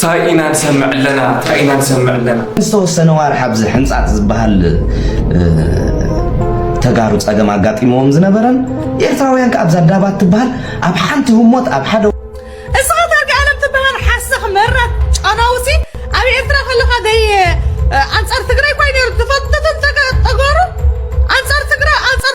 ታይ ኢና ንሰምዕ ኣለና ታይ ኢና ንሰምዕ ኣለና። ዝተወሰነ ዋርሕ ኣብዚ ሕንጻጽ ዝበሃል ተጋሩ ጸገም ኣጋጢምዎም ዝነበረን ኤርትራውያን ከኣ ኣብዛ ዳባት ትበሃል ኣብ ሓንቲ ህሞት ኣብ ሓደ እስኻ ተርጋኣለም ትበሃል ሓሰኽ መራት ጨናውሲ ኣብ ኤርትራ ከለኻ ደይ ኣንጻር ትግራይ ኳይ ነይሩ ትፈትትን ተጋሩ ኣንጻር ትግራይ ኣንጻር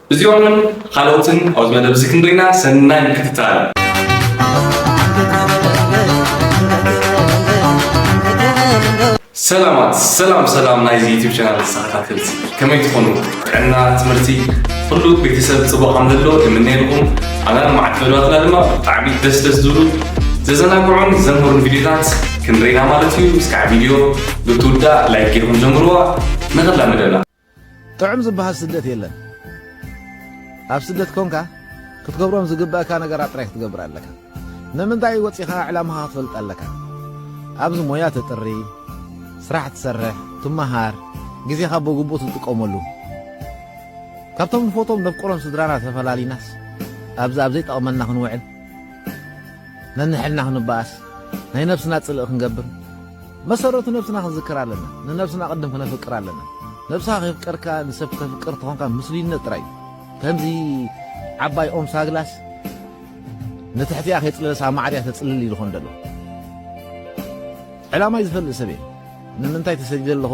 እዚኦምን ኻልኦትን ኣብዚ መደብ እዚ ክንርኢ ኢና። ሰናይ ምክትታል። ሰላማት ሰላም ሰላም ናይዚ ዩቲብ ቻናል ተኸታተልቲ ከመይ ትኾኑ? ጥዕና፣ ትምህርቲ፣ ኩሉ ቤተሰብ ፅቡቕ ከም ዘሎ የምነየልኩም። ኣና ልምዓት መደባትና ድማ ብጣዕሚ ደስ ደስ ዝብሉ ዘዘናግዑን ዘምህሩን ቪዲዮታት ክንርኢና ማለት እዩ። እስካዕ ቪዲዮ ብትውዳእ ላይክ ጌርኩም ጀምርዋ ንኽላ መደብና ጥዑም ዝበሃል ስደት የለን ኣብ ስደት ኮንካ ክትገብሮም ዝግበእካ ነገራት ጥራይ ክትገብር ኣለካ ንምንታይ ወጺኻ ዕላማኻ ክትፈልጥ ኣለካ ኣብዚ ሞያ ተጥሪ ስራሕ ትሰርሕ ትመሃር ግዜኻ ብግቡእ ትጥቀመሉ ካብቶም ንፎቶም ነፍቅሮም ስድራና ተፈላሊናስ ኣብዚ ኣብ ዘይጠቕመና ክንውዕል ነንሕልና ክንበኣስ፣ ናይ ነብስና ጽልኢ ክንገብር፣ መሰረቱ ነብስና ክንዝክር ኣለና። ንነብስና ቅድም ክነፍቅር ኣለና። ነብስኻ ከይፍቀርካ ንሰብ ክተፍቅር ተኾንካ ምስሉይነት ጥራይ እዩ። ከምዚ ዓባይ ኦም ሳግላስ ንትሕቲኣ ከይጽለለስ ኣብ ማዕድያ ተጽልል እዩ ዝኾን ደሎ። ዕላማይ ዝፈልጥ ሰብ እየ። ንምንታይ ተሰዲደ ኣለኹ፣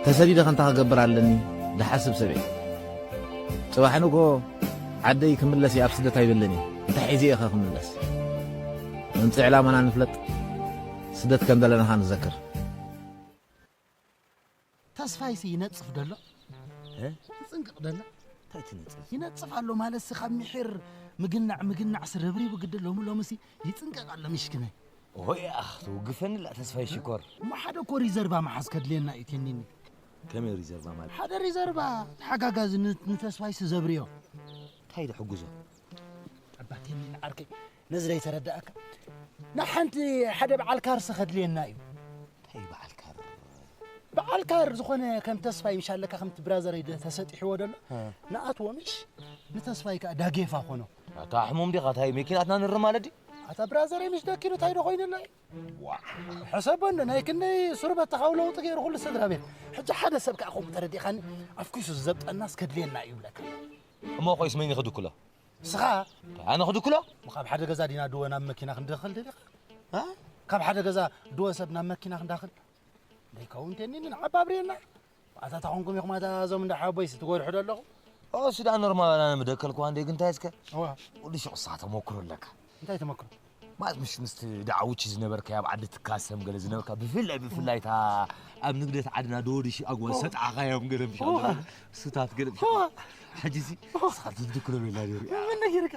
ተሰዲደ ከ እንታይ ክገብር ኣለኒ ዝሓስብ ሰብ እየ። ጽባሕ ንግሆ ዓደይ ክምለስ እየ ኣብ ስደት ኣይብልን እየ እንታይ ሒዘ እየኸ ክምለስ መምፅኢ ዕላማና ንፍለጥ ስደት ከም ዘለና ኸ ንዘክር ተስፋይሲ ይነፅፍ ደሎ ትፅንቅቕ ደላ እንታይ ትነፅፍ ይነፅፍ ኣሎ ማለትሲ ካብ ምሒር ምግናዕ ምግናዕ ስረብሪቡ ግዲ ሎሚ ሎምሲ ይፅንቀቕ ኣሎ ምሽክነ ሆይ ኣኽ ትውግፈኒ ላ ተስፋይ ሽኮር እሞ ሓደ እኮ ሪዘርቫ መሓዝ ከድልየና እዩ ቴኒኒ ከመይ እዩ ሪዘርቫ ማለት? ሓደ ሪዘርቫ ተሓጋጋዚ ንተስፋይሲ ዘብርዮ እንታይ ዝሕግዞ ኣባቴ ንዓርከይ ነዚ ዘይተረዳእካ ንሓንቲ ሓደ በዓል ካርሲ ከድልየና እዩ እንታይ በዓል ካር በዓል ካር ዝኾነ ከም ተስፋይ ምሻለካ ከምቲ ብራዘረይ ተሰጢሕዎ ደሎ ንኣትዎ ምሽ ንተስፋይ ከዓ ዳጌፋ ኮኖ ኣታ ሕሙም ዲኻ እንታይ መኪናትና ንር ማለት ኣታ ብራዘረይ ምሽ ደኪሉ እንታይ ዶ ኮይኑና እዩ ዋእ ሕሰቦ እንዶ ናይ ክንደይ ሱር በተኻዊ ለውጢ ገይሩ ኩሉ ስድራ ቤት ሕጂ ሓደ ሰብ ከዓ ከምኡ ተረዲእኻኒ ኣፍኪሱ ዝዘብጠናስ ከድልየና እዩ ይብለካ እሞ ኮይስ መን ይኽድክሎ ንስኻ ኣነ ክድክሎ ካብ ሓደ ገዛ ዲና ድወ ናብ መኪና ክንደኽል ደሊኻ ካብ ሓደ ገዛ ድወ ሰብ ናብ መኪና ክንዳኽል ደይከውን ቴኒንን ዓባብርየና ኣታ ታኾንኩም ኢኹም ኣታ እዞም እንዳ ሓቦይስ ትጎድሑ ዶ ኣለኹም እሱ ዳኣ ኖርማል ኣና ምደከልኩ ኣንዴ ግን እንታይ እስከ ወዲ ሸቁሳ ተመክሮ ኣለካ እንታይ ተመክሮ ማለት ምሽ ምስ ዳዓውቺ ዝነበርካ ኣብ ዓዲ ትካሰም ገለ ዝነበርካ ብፍላይ ብፍላይ እታ ኣብ ንግደት ዓድና ደወድሽ ኣጓል ሰጥዓኻዮም ገለ ምሽ ስታት ገለ ሕጂ ሲ ስኻት ትድክሎ ቤላ ነይሩ ምን ነጊርካ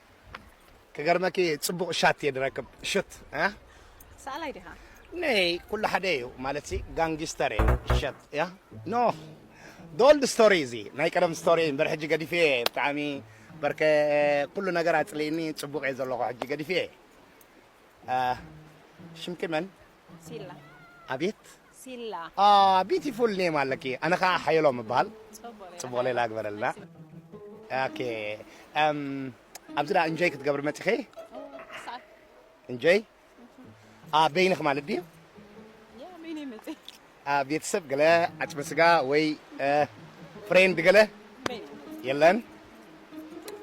ክገርመኪ ጽቡቅ ሻት እየ ድረክብ ሽት እ ሰኣላይ ዲኻ? ነይ ኩሉ ሓደ እዩ ማለትሲ ጋንጊስተር እየ ሸት እያ ኖ ዶልድ ስቶሪ እዚ ናይ ቀደም ስቶሪ እምበር ሕጂ ገዲፌ እየ ብጣዕሚ በርከ ኩሉ ነገር ኣጽሊእኒ ጽቡቅ እየ ዘለኹ ሕጂ ገዲፌ እየ ሽምኪ መን ሲላ ኣቤት ሲላ። ኣህ ቢቲፉል ኔም ኣለኪ ኣነ ከኣ ሓየሎም እበሃል ጽቡቅ ሌላ ግበረልና ኦኬ ኣብዚ ደኣ እንጆይ ክትገብሪ መጺኺ እንጆይ ኣህ በይንኺ ማለት ድዩ ኣህ ቤተሰብ ገለ ዓጽመ ስጋ ወይ ፍሬንድ ገለ የለን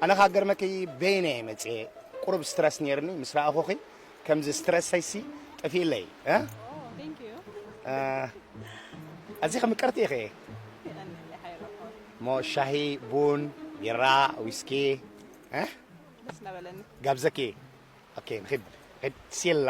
ኣነ ከኣ ገርመኪ በይነይ መጽየ ቁሩብ ስትረስ ኔርኒ ምስ ረኣኹኺ ከምዚ ስትረሰይሲ ጠፊእለይ ኣዚኺ ምቅርቲ ኢኺ እሞ ሻሂ ቡን ቢራ ዊስኪ ጋብዘኪ ንኺድ ሲላ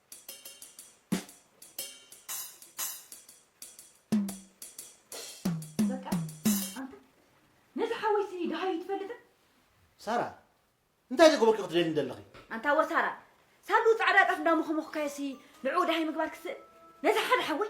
ሳራ እንታይ ዘገበርኪ ክትደሊ እንደለኺ ኣንታ ወሳራ ሳሉ ፃዕዳ ጣፍ እንዳሞኸሞኽካዮሲ ንዕኡ ድሃይ ምግባር ክስእል ነዚ ሓደ ሓወይ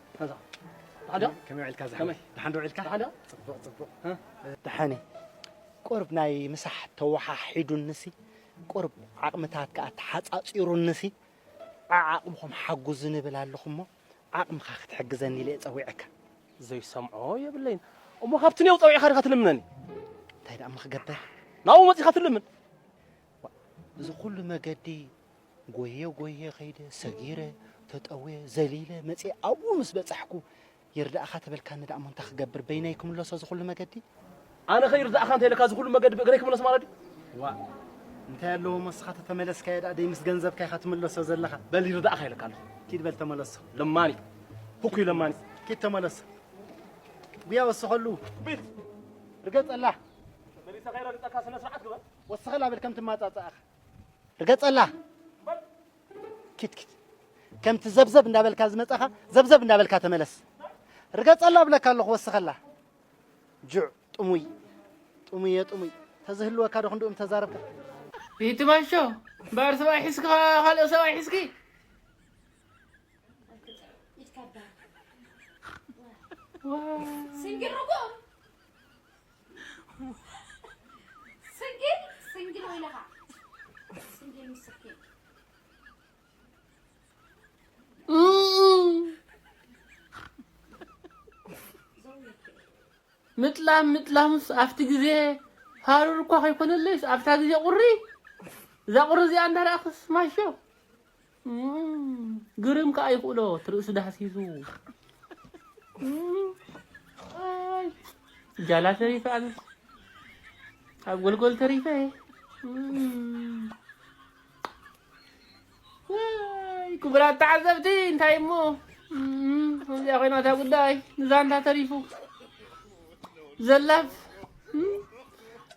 ደሓን እየ ቁሩብ ናይ ምሳሕ ተወሓሒዱኒሲ ቁሩብ ዓቕምታት ከኣ ተሓጻጺሩኒሲ ዓዓቕምኹም ሓጉዙኒ እብል ኣለኹ እሞ ዓቕምኻ ክትሕግዘኒ ኢለ እየ ጸዊዐካ ዘይሰምዖ የብለይን እሞ ካብቲ ኔው ጸዊዕካ ድኻ ትልምነኒ እንታይ ደኣ እሞ ክገብር ናብኡ መጺኻ ትልምን እዚ ኩሉ መገዲ ጎየ ጎየ ከይደ ሰጊረ ተጠውየ ዘሊለ መፅየ ኣብኡ ምስ በፃሕኩ ይርዳእኻ ተበልካኒ ደኣሞ እንታይ ክገብር በይነይ ክምለሶ ዝኹሉ መገዲ ኣነ ከ ይርዳእኻ እንተይለካ ዝኹሉ መገዲ ብእግረይ ክምለስ ማለት ድዩ ዋእ እንታይ ኣለዎ መስኻ ተተመለስካዮ ደኣ ደይ ምስ ገንዘብካ ኢኻ ትምለሶ ዘለኻ በል ይርዳእኻ ኢለካ ኣለኹ ኪድ በል ተመለሶ ለማኒ ህኩይ ለማኒ ኪድ ተመለሶ ጉያ ወስኸሉ ቢት ርገጸላ መሊሰ ከይረግጸካ ስነ ስርዓት ግበር ወስኸላ በል ከም ትማጻጻእኻ ርገጸላ ኪት ኪት ከምቲ ዘብዘብ እንዳበልካ ዝመጻኻ ዘብዘብ እንዳበልካ ተመለስ ርገጸላ ብለካ ኣለኹ ወስኸላ ጁዕ ጥሙይ ጥሙየ ጥሙይ ተዝህልወካ ዶ ክንድኡም ተዛረብካ ይትባሾ እምበኣር ሰብኣይ ሒዝካ ካልኦ ሰብኣይ ሒዝኪ Wow. Singkir rokok. ስንግል ስንግል ወይ ለኻ ስንግል ምስክል ምጥላም ምጥላምስ ኣብቲ ግዜ ሃሩር እኳ ከይኮነለይስ ኣብታ ግዜ ቁሪ እዛ ቁሪ እዚኣ እንዳረኣኽስ ማሾ ግርም ከዓ ይኽእሎ ትርእሱ ዳህሲሱ ጃላ ተሪፈ ኣብ ኣብ ጎልጎል ተሪፈ ክቡራት ተዓዘብቲ እንታይ እሞ እዚኣ ኮይና እታ ጉዳይ ንዛንታ ተሪፉ ዘላፍ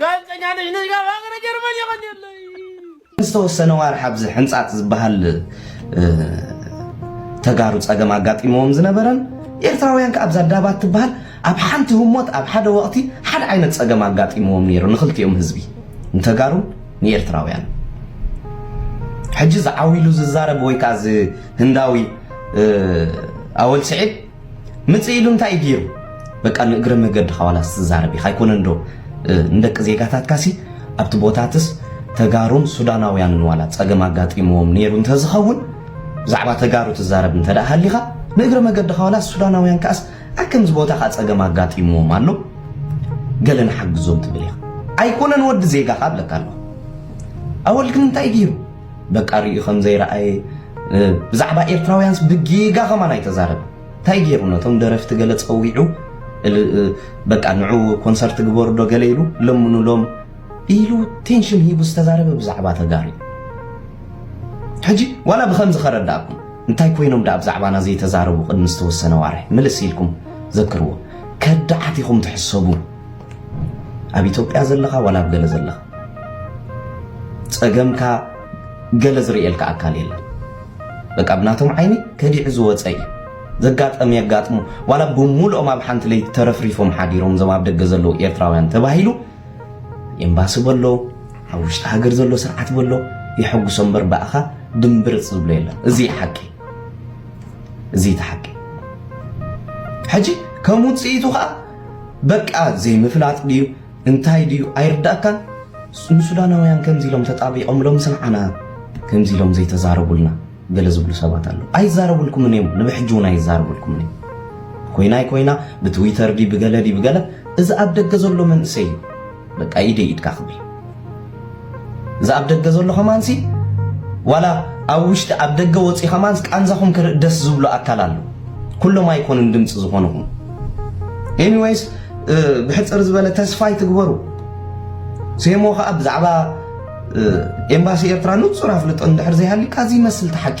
ጋዜጠኛ ነሽ ነሽ ካብ ሃገረ ጀርመን የቐንየለይ ዝተወሰነ ዋርሕ ኣብዚ ሕንፃፅ ዝበሃል ተጋሩ ፀገም ኣጋጢሞዎም ዝነበረን ኤርትራውያን ከዓ ኣብዛ ዳባት ትበሃል ኣብ ሓንቲ ህሞት ኣብ ሓደ ወቕቲ ሓደ ዓይነት ፀገም ኣጋጢሞዎም ነይሩ ንክልቲኦም ህዝቢ ንተጋሩን ንኤርትራውያን ሕጂ ዝዓው ኢሉ ዝዛረብ ወይ ከዓ እዚ ህንዳዊ ኣወል ስዒድ ምጽእ ኢሉ እንታይ እዩ ገይሩ? በቃ ንእግረ መገድኻ ዋላስ ትዛረብ ኢኻ ኣይኮነን ዶ ንደቂ ዜጋታትካሲ ኣብቲ ቦታትስ ተጋሩን ሱዳናውያንን ዋላ ጸገም ኣጋጢምዎም ነይሩ እንተዝኸውን ብዛዕባ ተጋሩ ትዛረብ እንተደኣ ሃሊኻ ንእግረ መገድኻ ዋላስ ሱዳናውያን ከኣስ ኣብ ከምዚ ቦታ ከኣ ጸገም ኣጋጢምዎም ኣሎ ገለ ንሓግዞም ትብል ኢኻ ኣይኮነን ወዲ ዜጋኻ እብለካ ኣለኹ ኣወል ግን እንታይ እዩ ገይሩ በቃ ሪኡ ከም ዘይረኣየ ብዛዕባ ኤርትራውያንስ ብጌጋ ከማን ኣይተዛረበ እንታይ ገይሩ ነቶም ደረፍቲ ገለ ጸዊዑ በቃ ንዑ ኮንሰርት ግበሩ ዶ ገለ ኢሉ ለምኑሎም ኢሉ ቴንሽን ሂቡ ዝተዛረበ ብዛዕባ ተጋሩ ሕጂ ዋላ ብከምዚ ከረዳእኩም እንታይ ኮይኖም ደኣ ብዛዕባና ዘይተዛረቡ ቅድሚ ዝተወሰነ ዋርሒ ምልስ ኢልኩም ዘክርዎ ከዳዓት ኢኹም ትሕሰቡ ኣብ ኢትዮጵያ ዘለኻ ዋላ ኣብ ገለ ዘለኻ ጸገምካ ገለ ዝርእየልካ ኣካል የለን በቃ ብናቶም ዓይኒ ከዲዑ ዝወጸ እዩ ዘጋጠም የጋጥሙ ዋላ ብሙሉኦም ኣብ ሓንቲ ለይቲ ተረፍሪፎም ሓዲሮም እዞም ኣብ ደገ ዘለዉ ኤርትራውያን ተባሂሉ ኤምባሲ በሎ ኣብ ውሽጢ ሃገር ዘሎ ስርዓት በሎ የሐጉሶ እምበር ብኣኻ ድምብርፅ ዝብሎ የለን እዚ እዩ ሓቂ እዚ እቲ ሓቂ ሕጂ ከም ውፅኢቱ ከዓ በቃ ዘይምፍላጥ ድዩ እንታይ ድዩ ኣይርዳእካን ንሱዳናውያን ከምዚ ኢሎም ተጣቢቆምሎም ስንዓና ከምዚ ኢሎም ዘይተዛረቡልና ገለ ዝብሉ ሰባት ኣለዉ ኣይዛረቡልኩምን እዮም ንብሕጂ እውን ኣይዛረቡልኩምን እዮም ኮይናይ ኮይና ብትዊተር ዲ ብገለ ዲ ብገለ እዚ ኣብ ደገ ዘሎ መንእሰይ እዩ በቃ ኢደይ ኢድካ ክብል እዛ ኣብ ደገ ዘሎ ከማንሲ ዋላ ኣብ ውሽጢ ኣብ ደገ ወጺ ከማንስ ቃንዛኹም ክርኢ ደስ ዝብሎ ኣካል ኣሎ ኩሎም ኣይኮኑን ድምጺ ዝኾኑኹም ኤኒዌይስ ብሕጽር ዝበለ ተስፋ ይትግበሩ ሴሞ ከዓ ብዛዕባ ኤምባሲ ኤርትራ ንጹር ኣፍልጦ እንድሕር ዘይሃልዩካ እዚ ይመስል ተሓቂ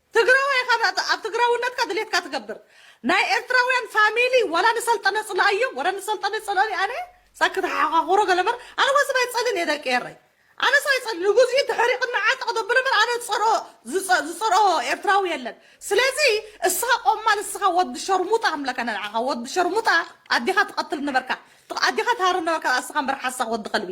ትግራዋይ ኢኻ ብ ኣብ ትግራውነትካ ድሌትካ ትገብር ናይ ኤርትራውያን ፋሚሊ ዋላ ንሰልጠነ ጽልኣዮ ወረ ንሰልጠነ ይጸልኦኒ ኣነ ሳክት ሓሓዃኹሮ ገለ እምበር ኣነ ወስብ ኣይጸልን እየ ደቂ ኤረይ ኣነስ ኣይጸል ንጉዝኢ ተሕሪቕኒ ዓጥ ክተብሎ እምበር ኣነ ዝጸልኦ ዝጸ ዝጸልኦ ኤርትራዊ የለን ስለዚ እስኻ ቆማል እስኻ ወዲ ሸርሙጣ ክምለካ እነ ንዓኻ ወዲ ሸርሙጣ ኣዴኻ ትቐትል ነበርካ ኣዴኻ ትሃርም ነበርካ እስኻ እምበር ሓሳኽ ወዲ ከልቢ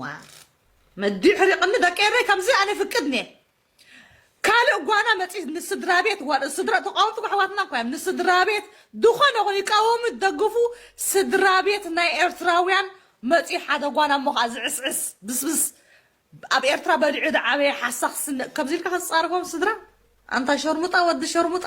ዋው መዲዩ ሕሪቅኒ ደቂ ኤረይ ከምዚ ኣነ ይፍቅድ እንየ ካልእ ጓና መጺት ንስድራቤት ዋላ ስድራ ተቃወምቲ ኣሕዋትና እኮ እዮም ንስድራቤት ድኾነ ይኹን ይቃወሙ ይደግፉ ስድራቤት ናይ ኤርትራውያን መጺኡ ሓደ ጓና እሞ ከኣ ዝዕስዕስ ብስብስ ኣብ ኤርትራ በሊዑ ዝዓበየ ሓሳኽ ስነ ከምዚ ኢልካ ክትጻረፎም ስድራ ኣንታ ሸርሙጣ ወዲ ሸርሙጣ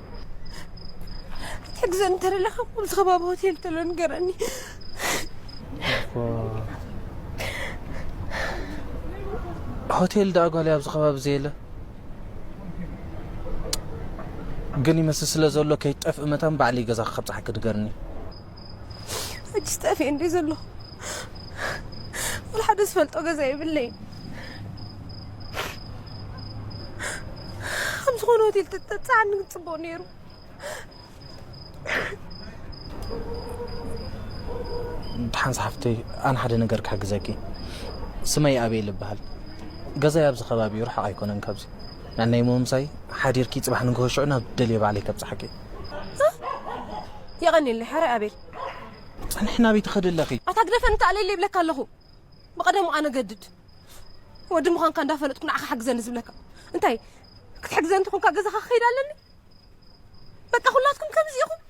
ትሕግዘኒ እንተለኻ ኣብዚ ከባቢ ሆቴል ተሎ ንገረኒ ሆቴል ደኣ ጓል ኣብዚ ከባቢ ዘየለ ግን ይመስል ስለ ዘሎ ከይትጠፍእ መታን ባዕሊ ገዛ ከብፅሓ ክድገርኒ ሕጂስ ጠፊኤ እንድየ ዘለኹ ዋላ ሓደ ዝፈልጦ ገዛ የብለይን ኣብ ዝኾነ ሆቴል ተተብፅዓኒ ግን ፅቡቕ ነይሩ ድሓን ዝሓፍተይ ኣነ ሓደ ነገር ክሕግዘኪ ስመይ ኣበይ ልበሃል ገዛይ ኣብዚ ከባቢ እዩ ርሓቕ ኣይኮነን ካብዚ ናይ ሞምሳይ ሓዲርኪ ፅባሕ ንግሆ ሽዑ ናብ ደልየ ባዕለይ ከብፅሓኪ የቐኒየለይ ሕራይ ኣቤል ጸንሒ ናበይ ትኸዲ ኣለኺ ኣታ ግደፈኒ ተኣለየለይ ይብለካ ኣለኹ ብቐደሙ ኣነ ገድድ ወዲ ምዃንካ እንዳፈለጥኩ ንዓኻ ሓግዘኒ ዝብለካ እንታይ ክትሕግዘኒ እንተኾንካ ገዛኻ ክኸይድ ኣለኒ በቃ ኩላትኩም ከምዚ ኢኹም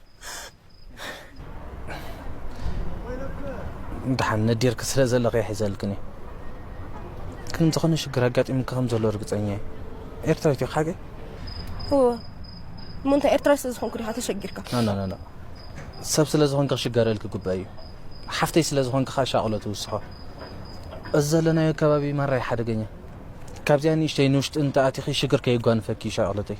ድሓን ነዲርክ ስለ ዘለኺ ይሕዘልክን እዩ ግን ዝኾነ ሽግር ኣጋጢሙካ ከም ዘሎ ርግፀኛ እዩ ኤርትራዊት እዩ ሓቂ እወ እሞ እንታይ ኤርትራዊ ስለ ዝኾንኩ ዲኻ ተሸጊርካ ናናናና ሰብ ስለ ዝኾንካ ክሽገረልክ ግባእ እዩ ሓፍተይ ስለ ዝኾንካ ኸ ሻቕሎ ትውስኾ እዚ ዘለናዮ ከባቢ ማራይ ሓደገኛ ካብዚኣ ንእሽተይ ንውሽጢ እንተኣቲኺ ሽግር ከየጓንፈኪ ሻቕሎተይ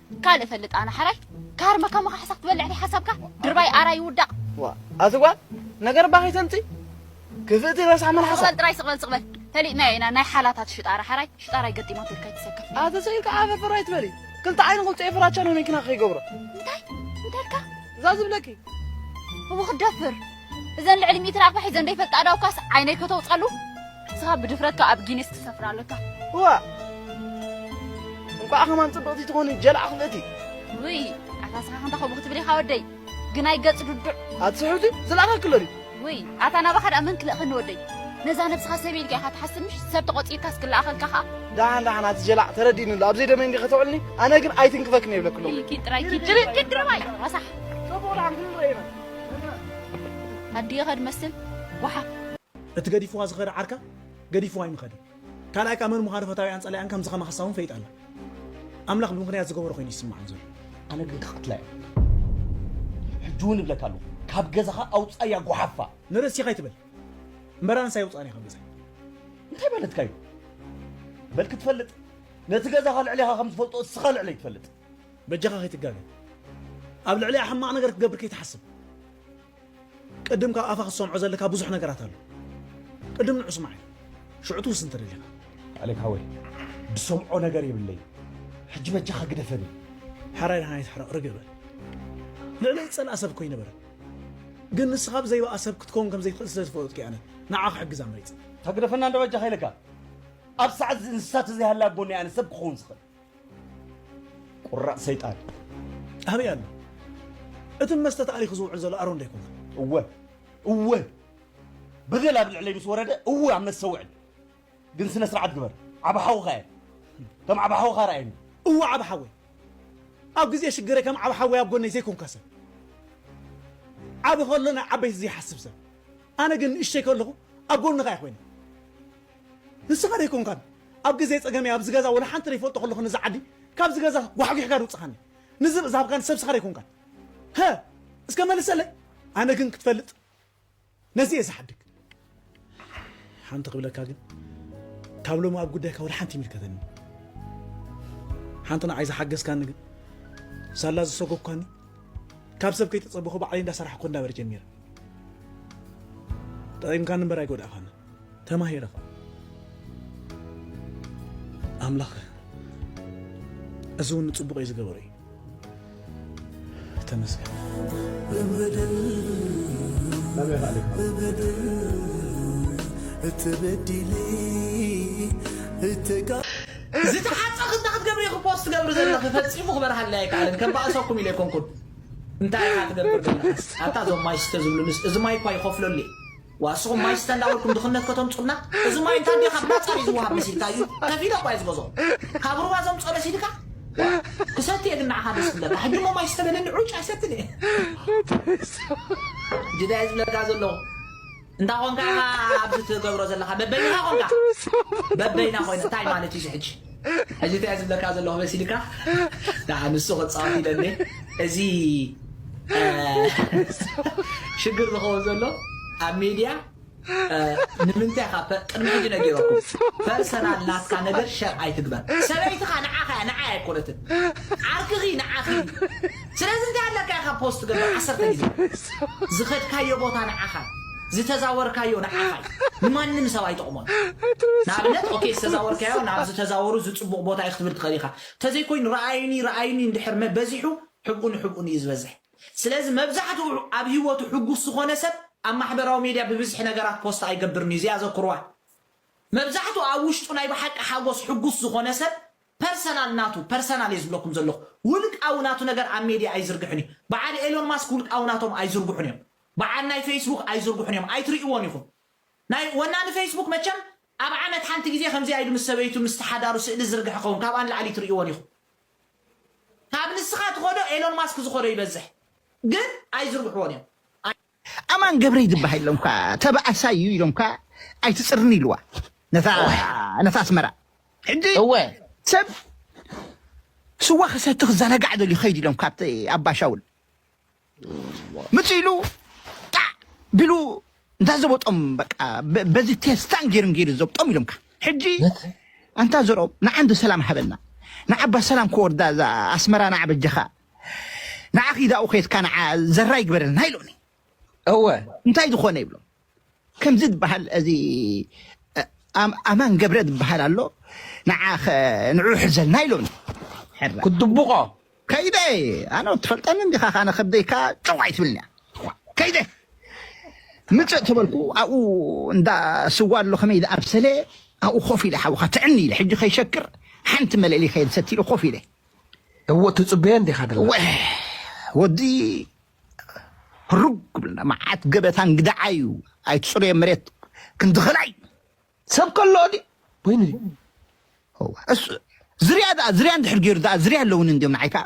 ካልእ ፈልጥ ኣነ ሓራይ ካርመ ከማኻ ሓሳኽ ትበልዕ ታይ ሓሳብካ ድርባይ ኣራይ ይውዳቕ ዋ ኣቲ ጓል ነገር እባ ከይተምፂ ክፍእቲ ረሳሕ መልሓሳ ስቕበል ጥራይ ስቕበል ስቕበል ፈሊጥናዮ ኢና ናይ ሓላታት ሽጣራ ሓራይ ሽጣራይ ገጢማ ትብል ከይትሰከፍ ኣቲ ስኢልካ ዓፈፈር ኣይትበሊ ክልተ ዓይኒ ቁልፀ ፍራቻ ንመኪና ከይገብሮ እንታይ እንታይ እልካ እዛ ዝብለኪ እዎ ክደፍር እዘን ልዕሊ ሚእቲ ናቕፋ ሒዘን ዘይፈልጣ ኣእዳውካስ ዓይነይ ከተውጸሉ ንስኻ ብድፍረትካ ኣብ ጊኒስ ትሰፍር ኣለካ እዋ እንቋዕ ከማን ጽብቕቲ ትኾኒ ጀላዕ ክልእቲ ውይ ኣታ ስኻ ከምታ ከምኡ ክትብል ኢኻ ወደይ ግናይ ገጽ ዱዱዕ ኣትስሕብቲ ዝለኣኻ ክሎ ድዩ ውይ ኣታ ናባኻ ድኣ መን ክልእኸኒ ወደይ ነዛ ነብስኻ ሰብ ኢልካ ኢኻ ትሓስብ ምሽ ሰብ ተቖጺርካስ ክለኣኸልካ ኸኣ ደሓን ደሓን ኣቲ ጀላዕ ተረዲእኒ ኣሎ ኣብዘይ ደመይ እንዲ ከተውዕልኒ ኣነ ግን ኣይትንክፈክን የብለክሎም ኢልኪን ጥራይኪ ጅርቅን ድርባይ ረሳሕ ጽቡቕ ደሓን ክንረኤና ኣዲየ ከድ መስል ጓሓፍ። እቲ ገዲፍዋ ዝኸደ ዓርካ ገዲፍዋ ኣይምኸደን ካልኣይ ከኣ መን ምዃኑ ፈታዊኣን ጸላኢኣን ከምዚ ከማ ሓሳዊ ውን ፈሊጣ ኣላ ኣምላኽ ብምኽንያት ዝገበሮ ኮይኑ ይስምዓን ዘሎ። ኣነ ግን ክቅትላ እየ ሕጂ ውን እብለካ ኣለኩ ካብ ገዛካ ኣውጻያ ጓሓፋ። ንርእሲካ ኣይትበል እምበር ኣንስ ኣይውጻኣን እየ ካብ ገዛይ። እንታይ ማለትካ እዩ በል ክትፈልጥ ነቲ ገዛካ ልዕሌካ ከም ዝፈልጦ እስካ ልዕለይ ትፈልጥ። በጃኻ ከይትጋገ ኣብ ልዕሊኣ ሕማቕ ነገር ክትገብር ከይትሓስብ ቅድም ካብ ኣፋ ክትሰምዖ ዘለካ ብዙሕ ነገራት ኣሎ ቅድም ንዑ ስማዕ ሽዑ ትውስን ትደሊኻ ኣሌክ ሃወይ ድሰምዖ ነገር የብለይ ሕጂ በጃኻ ግደፈኒ ሓራይ ድሃና ይትሕረቕ ርግእ በል ልዕሊ ዝጸልኣ ሰብ እኮ ይነበረ ግን ንስኻ ብዘይባኣ ሰብ ክትከውን ከም ዘይትኽእል ስለ ዝፈለጥኩ ኣነ ንዓ ክሕግዛ መሪጸ ተግደፈና እንዶ በጃኻ ኢለካ ኣብ ሰዓት እዚ እንስሳ ተዘይሃላ ጎኒ ኣነ ሰብ ክኸውን ዝኽእል ቁራጽ ሰይጣን ኣበይ ኣሎ እቲ ብመስተ ተኣሊኹ ዝውዕል ዘሎ ኣሮን ዶ ኣይኮነን? እወ እወ በደል ኣብ ልዕለይ ምስ ወረደ እወ ኣብ መስተ ውዕል ግን ስነ ስርዓት ግበር ዓብ ሓውኻ እየ ከም ዓብ ሓውኻ ርኣየኒ እወ ዓብ ሓወይ ኣብ ግዜ ሽግረ ከም ዓብ ሓወይ ኣብ ጎነይ ዘይኮንካ ሰብ ዓቢ ከሎ ናይ ዓበይቲ ዘይሓስብ ሰብ ኣነ ግን ንእሽተይ ከለኹ ኣብ ጎንኻ እየ ኮይነ ንስኻ ዶ ኣይኮንካን ኣብ ግዜ ጸገመይ ኣብዚ ገዛ ወላ ሓንቲ ደይፈልጦ ከለኹ ነዚ ዓዲ ካብዚ ገዛ ጓሕጒሕካ ዶውጽኻኒ ንዝብኢ ዝሃብካኒ ሰብ ንስኻ ዶ ኣይኮንካን ሀ እስከ መልሰለይ ኣነ ግን ክትፈልጥ ነዚ እየ ዝሓድግ ሓንቲ ክብለካ ግን ካብ ሎሚ ኣብ ጉዳይካ ወላ ሓንቲ ይምልከተኒ ሓንቲ ንዓይ ዝሓገዝካኒ ግን ሳላ ዝሰጎብካኒ ካብ ሰብ ከይተጸበኹ ባዕለይ እንዳሰራሕኩ እንዳበር ጀሚረ ጠቒምካኒ እምበር ኣይጎዳእኻኒ ተማሂረ ኸኣ ኣምላኸ እዚ እውን ንጽቡቕ እዩ ዝገበሮ እዩ ተመስገን ዝተሓፀ ክታ ክትገብሪ ኢኹ ፖስት ትገብሪ ዘለኺ ፈፂሙ ክበርሃለይ ኣይከኣለን ከባእሰኩም ኢለ ኣይኮንኩን እንታይ ኢኻ ትገብር ዘለኻስ ኣታ እዞም ማይ ስተ ዝብሉንስ እዚ ማይ እኳ ይኸፍለሉ እየ ዋስኹም ማይ ስተ እንዳበልኩም ድኽነት ከተምጹልና እዚ ማይ እንታ እንዲዮ ካብ ናጻ ድዩ ዝወሃብ መሲልካ እዩ ከፊለ እኳ እየ ዝገዝኦ ካብ ሩባ ዘምጽኦ መሲልካ ዋእ ክሰቲ እየ ግን ንዓኻ ደስ ክብለካ ሕጂ እሞ ማይ ስተ በለኒ ዑጭ ኣይሰትን እየ ጅዳይ ዝብለካ ዘለኹ እንታ ኮንካ ኢኻ ኣብዚ ትገብሮ ዘለኻ በበይንኻ ኮንካ በበይና ኮይና እንታይ ማለት እዩ እዚ ሕጂ ሕጂ እንታይ ዝብለካ ዘለኹ መሲልካ ደኣ ንሱ ክጻወት ኢለ እንዴ እዚ ሽግር ዝኸውን ዘሎ ኣብ ሜድያ ንምንታይ ካብ ቅድሚ ሕጂ ነጊረኩም ፐርሰናል ናትካ ነገር ሸር ኣይትግበር ሰበይትኻ ንዓኻ እያ ንዓይ ኣይኮነትን ዓርክኺ ንዓኺ ስለዚ እንታይ ኣለካ ኢካ ፖስት ትገብር ዓሰርተ ግዜ ዝከድካዮ ቦታ ንዓካ እዩ ዝተዛወርካዮ ንዓካ እዩ ንማንም ሰብ ኣይጠቅሞን ንኣብነት ኦኬ ዝተዛወርካዮ ናብ ዝተዛወሩ እዚ ጽቡቅ ቦታ እዩ ክትብል ትክእል ኢካ ተዘይ ኮይኑ ረኣዩኒ ረኣዩኒ እንድሕር መ በዚሑ ሕብኡ ንሕብኡን እዩ ዝበዝሕ ስለዚ መብዛሕትኡ ኣብ ሂወቱ ሕጉስ ዝኮነ ሰብ ኣብ ማሕበራዊ ሜድያ ብብዝሒ ነገራት ፖስት ኣይገብርን እዩ እዚኣ ዘክርዋ መብዛሕትኡ ኣብ ውሽጡ ናይ ብሓቂ ሓጎስ ሕጉስ ዝኮነ ሰብ ፐርሰናል ናቱ ፐርሰናል እየ ዝብለኩም ዘለኩ ውልቃዊ ናቱ ነገር ኣብ ሜድያ ኣይዝርግሕን እዩ በዓል ኤሎን ማስክ ውልቃዊ ናቶም ኣይዝርጉሑን እዮም በዓል ናይ ፈይስቡክ ኣይዝርጉሑን እዮም ኣይትሪእዎን ኢኩም ናይ ወናኒ ፈይስቡክ መቸም ኣብ ዓመት ሓንቲ ግዜ ከምዚኣ ኢሉ ምስ ሰበይቱ ምስቲ ሓዳሩ ስእሊ ዝዝርግሕ ይከውን ካብኣ ንላዕሊ ትሪእዎን ኢኩም ካብ ንስካ ትኮዶ ኤሎን ማስክ ዝኮዶ ይበዝሕ ግን ኣይዝርግሕዎን እዮም ኣማን ገብረይ ዝበሃል ኢሎም እኳ ተባኣሳይ እዩ ኢሎም እኳ ኣይትፅርኒ ኢልዋ ነታ ኣስመራ ሕጂ ሰብ ስዋ ክሰቲ ክዘናጋዕ ደልዩ ከይድ ኢሎም ካብቲ ኣባሻውል ምፅ ኢሉ ጣዕ ቢሉ እንዳዘበጦም በቃ በዚ ቴስታን ጌርን ጌሩ ዘብጦም ኢሎምካ ሕጂ ኣንታ ዘርኦም ንዓንዲ ሰላም ሃበና ንዓባ ሰላም ክወርዳ እዛ ኣስመራ ንዓበጀኻ ንዓኺ ዳኡ ኬድካ ንዓ ዘራ ይግበረልና ኢሎኒ እወ እንታይ ዝኾነ ይብሎ ከምዚ ዝበሃል እዚ ኣማን ገብረ ዝበሃል ኣሎ ንዓ ንዑ ሕዘልና ኢሎኒ ክትድብቆ ከይደ ኣነ ትፈልጠኒ እንዲኻ ካነ ከብደይካ ጨው ኣይትብልኒ ከይደ ምፅእ ተበልኩ ኣብኡ እንዳ ስዋ ኣሎ ከመይ ዝኣብሰለ ኣብኡ ኮፍ ኢለ ሓውካ ትዕኒ ኢለ ሕጂ ከይሸክር ሓንቲ መለሊ ከየድሰቲ ኢሉ ኮፍ ኢለ እወ ትጽበዮ እንዲኻ ደለኻ። እወ ወዲ ህሩግ ክብልና መዓት ገበታ እንግድዓ እዩ ኣይትጽረዮ መሬት ክንዲ ኽላይ ሰብ ከሎ ድዩ ወይኒ እወ እሱ ዝርያ ደኣ ዝርያ እንድሕር ገይሩ ደኣ ዝርያ ኣለውን እንድዮም ንዓይ ከኣ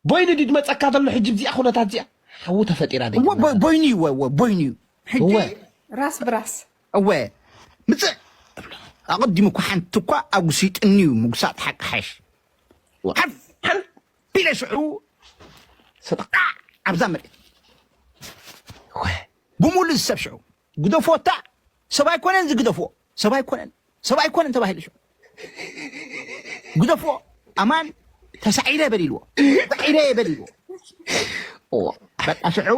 ቦይኒ ድዩ ድመጸካ ዘሎ ሕጂ ብዚኣ ኩነታት እዚኣ ሓዊ ተፈጢራ እወ ደጊምና ቦ- ቦይኑ እዩ እወ እወ ቦይኑ እዩ ሕጂ እወ ራስ ብራስ እወ ምጽእ እብሎ ኣቐዲሙ እኳ ሓንቲ እኳ ኣጉሲጥኒ እዩ ምጉሳጥ ሓቂ ሓሽ ቢለ ሽዑ ሰጥቃዕ ኣብዛ መሬት ብሙሉ ዝሰብ ሽዑ ግደፎታ ሰብ ኣይኮነን ዝግደፍዎ ሰብ ኣይኮነን ሰብ ኣይኮነን ተባሂሉ ሽዑ ግደፍዎ ኣማን ተሳዒረ በሊልዎ ተሳዒረ በሊልዎ በቃ ሽዑ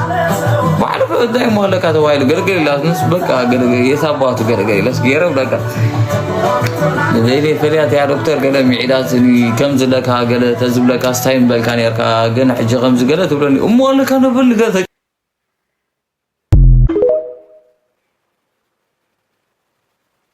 ባዕሉ ከዳይ ሞለካ ተባይሉ ገርገር ኢላትንስ በቃ የት ኣባቱ ገርገር ኢለስ ገይረ በቃ ዘይለ ፈልያት ያ ዶክተር ገለ ሚዒዳት ከም ዝለካ ገለ ተዝብለካ ስታይ ምበልካ ነርካ ግን ሕጂ ከምዚ ገለ ትብለኒ እሞ ኣለካ ነብል ገለ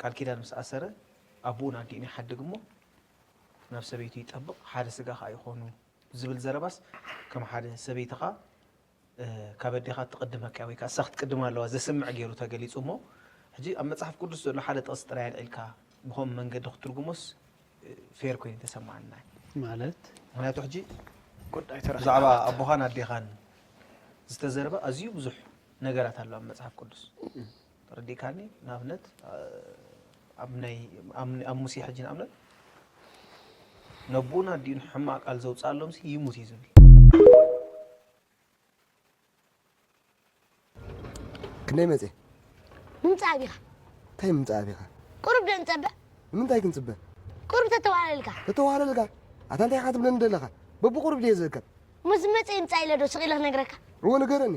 ቃል ኪዳን ምስ ኣሰረ ኣቡኡን ኣዲኡን ይሓድግ እሞ ናብ ሰበይቱ ይጠብቕ ሓደ ስጋ ከኣ ይኾኑ ዝብል ዘረባስ ከም ሓደ ሰበይትኻ ካብ ኣዴኻ እትቕድመካ ወይ ከኣ እሳ ክትቅድማ ኣለዋ ዘስምዕ ገይሩ ተገሊጹ እሞ ሕጂ ኣብ መጽሓፍ ቅዱስ ዘሎ ሓደ ጥቕሲ ጥራይ ኣልዒልካ ብኸምኡ መንገዲ ክትትርጉሞስ ፌር ኮይኑ ተሰማዓና ማለት ምክንያቱ ሕጂ ብዛዕባ ኣቦኻን ኣዴኻን ዝተዘርበ ኣዝዩ ብዙሕ ነገራት ኣሎ ኣብ መጽሓፍ ቅዱስ ተረዲእካኒ ንኣብነት ኣብ ናይ ኣብ ሙሴ ሕጂ ንኣብነት ነቦኡን ኣዲኡን ሕማቅ ቃል ዘውጽኣሎም ሲ ይሙት እዩ ዝብል ክንደይ መጽ ምምጻእ ኣቢኻ እንታይ ምምጻእ ኣቢኻ ቁሩብ ዶ ንጸበ ንምንታይ ክንጽበ ቁሩብ ተተዋህለልካ ተተዋህለልካ ኣታ እንታይ ኢኻ ትብለኒ ዘለኻ በብቁሩብ ድየ ዝእከብ ምስ መጸ ይምጻእ ኢለ ዶ ስቕ ኢለ ክነግረካ እዎ ንገረኒ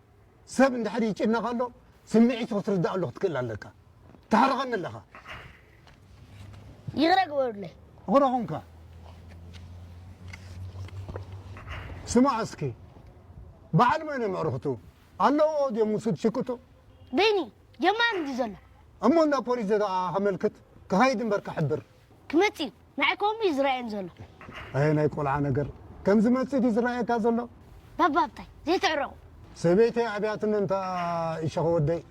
ሰብ እንድሕር ይጭነቕ ኣሎ ስምዒቱ ክትርዳኣሉ ክትክእል ኣለካ ታሕርቐኒ ኣለኻ ይቕረ ግበሩለይ ይቕረ ኹንካ ስማዕ እስኪ በዓል መን እዮም ኣዕርኽቱ ኣለዎ ድዮም ንሱ ትሽቅጡ በይኒ ጀማሪ እንዲ ዘሎ እሞ እንዳ ፖሊስ ዘደኣ ከመልክት ክኸይድ እምበር ክሕብር ክመፅእ እዩ ንዓይ ከምኡ እዩ ዝረኣየኒ ዘሎ። ኣየ ናይ ቆልዓ ነገር! ከም ዝመጽእ ድዩ ዝረኣየካ ዘሎ? ባባ ሃብታይ፣ ዘይትዕረቑ! ሰበይተይ ኣብያትኒ እንታ ኢሸኸ ወደይ!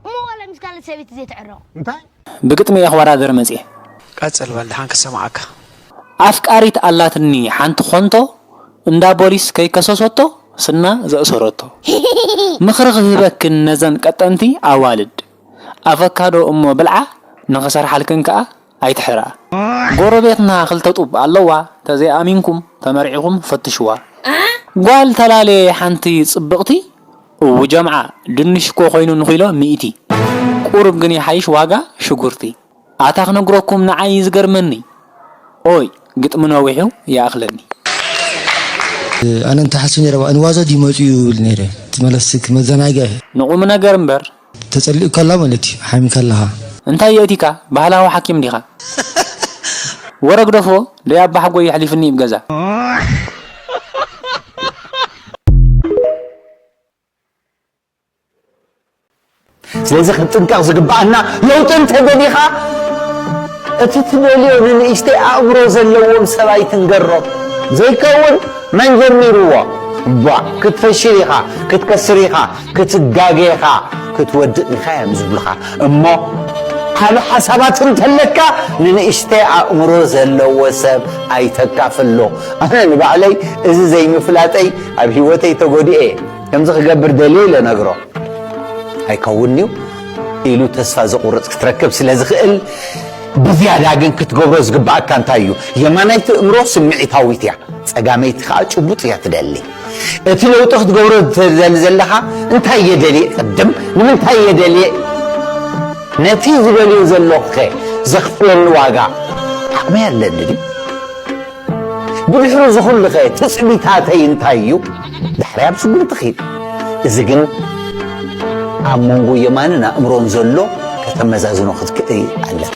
እሞ ዋላ ምስ ካልእ ሰበይቲ ዘይትዕረቑ? እንታይ? ብግጥሚ እየ ክወዳደር መጽየ። ቀጽል በል ድሓን ክሰምዓካ። ኣፍቃሪት ኣላትኒ ሓንቲ ኾንቶ እንዳ ቦሊስ ከይከሰሶቶ ስና ዘእሰሮቶ ምኽሪ ክህበክን ነዘን ቀጠንቲ ኣዋልድ ኣቨካዶ እሞ ብልዓ ንኽሰርሓልክን ከኣ ኣይትሕረኣ ጎረቤትና ክልተ ጡብ ኣለዋ ተዘይ ኣሚንኩም ተመርዒኩም ፈትሽዋ ጋል ተላለየ ሓንቲ ጽብቅቲ እው ጀምዓ ድንሽ እኮ ኮይኑ ንኪሎ ሚእቲ ቁሩብ ግን ይሓይሽ ዋጋ ሽጉርቲ ኣታ ክነግረኩም ንዓይ እዩ ዝገርመኒ ኦይ ግጥሚ ነዊሑ ይኣክለኒ። ኣነ እንተ ሓስብ ነይረ እባ እንዋዘ ድዩ መጺኡ ይብል ነይረ እቲ መለስክ መዘናግዒ። ንቁምነገር እምበር ተጸሊኡካ ኣሎ ማለት እዩ ሓሚካ ኣለኻ። እንታይ የእቲካ ባህላዊ ሓኪም ዲኻ። ወረ ግደፎ ደይ ኣባሓጎይ የሕሊፍኒ እብ ገዛ። ስለዚ ክንጥንቀቕ ዝግብኣና ለውጢ እንተደሊኻ እቲ ትደልዮ ንንእሽተይ ኣእምሮ ዘለዎም ሰብ ኣይትንገሮም። ዘይከውን መን ጀሚርዎ እባ ክትፈሽል ኢኻ ክትከስር ኢኻ። ክትጋገኻ ክትወድእ ዲኻ እዮም ዝብሉኻ እሞ ዓቢ ሓሳባት እንተለካ ንንእሽተይ ኣእምሮ ዘለዎ ሰብ ኣይተካፍሎ ኣነ ንባዕለይ እዚ ዘይምፍላጠይ ኣብ ሂወተይ ተጎዲኤ ከምዚ ክገብር ደልየ ኢለ ነግሮ ኣይከውን እዩ ኢሉ ተስፋ ዘቑርጽ ክትረክብ ስለ ዝኽእል ብዝያዳ ግን ክትገብሮ ዝግባኣካ እንታይ እዩ የማናይቲ እምሮ ስምዒታዊት እያ ጸጋመይቲ ከዓ ጭቡጥ እያ ትደሊ እቲ ለውጢ ክትገብሮ ትደሊ ዘለኻ እንታይ እየ ደልየ ቅድም ንምንታይ እየ ደልየ ነቲ ዝደልዮ ዘለኹኸ ዘኽፍለኒ ዋጋ ዓቕመይ ኣለኒ ድዩ ብድሕሪ ዝኹሉኸ ትፅቢታተይ እንታይ እዩ ዳሕሪ ኣብ ስጉምቲ ኺድ እዚ ግን ኣብ መንጎ የማንን ኣእምሮን ዘሎ ከተመዛዝኖ ክትክእል ኣለካ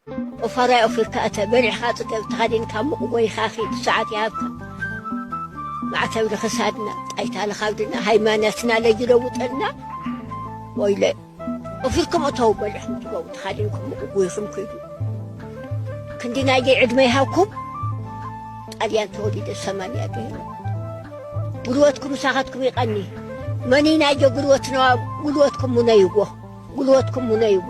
ኦፋራይ ኦፊርካ እተ በሪሕኻ ጥተብ ተኸዲንካ ሙቕ ጎይኻ ኺድ ሰዓት ይሃብካ ማዕተብ ንኽሳድና ጣይታ ንኻብድና ሃይማኖትና ለይለውጠልና ወይለ ኦፊርኩም እተው በሪሕኩም ትገቡ ተኸዲንኩም ሙቕ ጎይኹም ኪዱ ክንዲ ናይ ደይ ዕድመ ይሃብኩም ጣልያን ተወሊደ ሰማንያ ገይሩ ጉልበትኩም ምሳኻትኩም ይቐኒ መኒ ናይ ጀ ጉልበትና ጉልበትኩም ሙነይዎ ጉልበትኩም ሙነይዎ